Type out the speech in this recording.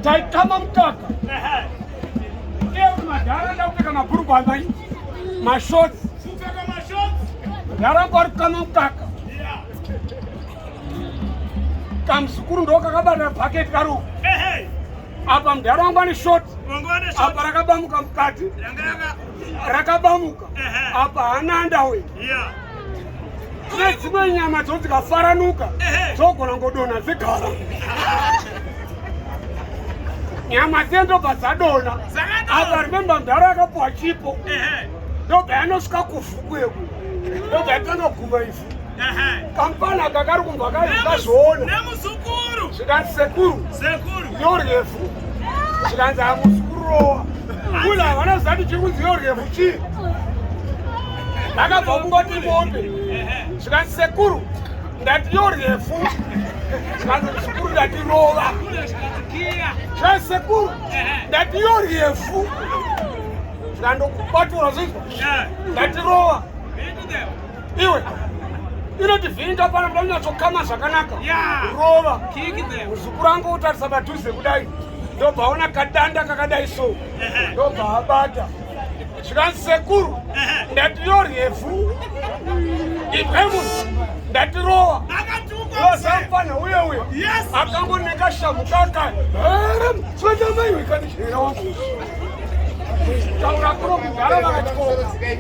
taitama mukaka madhara ndakupfeka mabhurugwa amai mashoti ndaramba ari kukama mukaka kamuzukuru ndo kakabata bhaketi karuku apa mudhara wangu ane shoti apa rakabamuka mukati rakabamuka apa hana andawe kune dzimwe nyama dzoti dzikafaranuka dzogona ngodona dzigara nyama dziye ndobva dzadona apa remembe mdhara akapuwa chipo ndobva yanosvika kuvhukweku ndobva yatanga guma ifu kampani aka kari kumbwa kaazviona zvikanzi sekuru yoryefu zvikanzi hamusi kurowa kula havana zati chiri kunzi yoryefu chii akabva kungoti mombe zvikanzi sekuru ndati yo refu zvikanzi zvikuru ndati rova zvikanzi sekuru ndati yo refu zvikandokubatura zvinzwa ndati rova iwe inoti vhinda pano ndoda kunyatsokama zvakanaka rova muzukuru angu utarisa padhuze kudai ndobva ona kadanda kakadai so ndobva abata zvikanzi sekuru ndatiro refu ipemun ndatirowa osamfana uye uye akangoneka shamu kaka sotamaiwekanichera wangu taura kuno kugara vakatikoa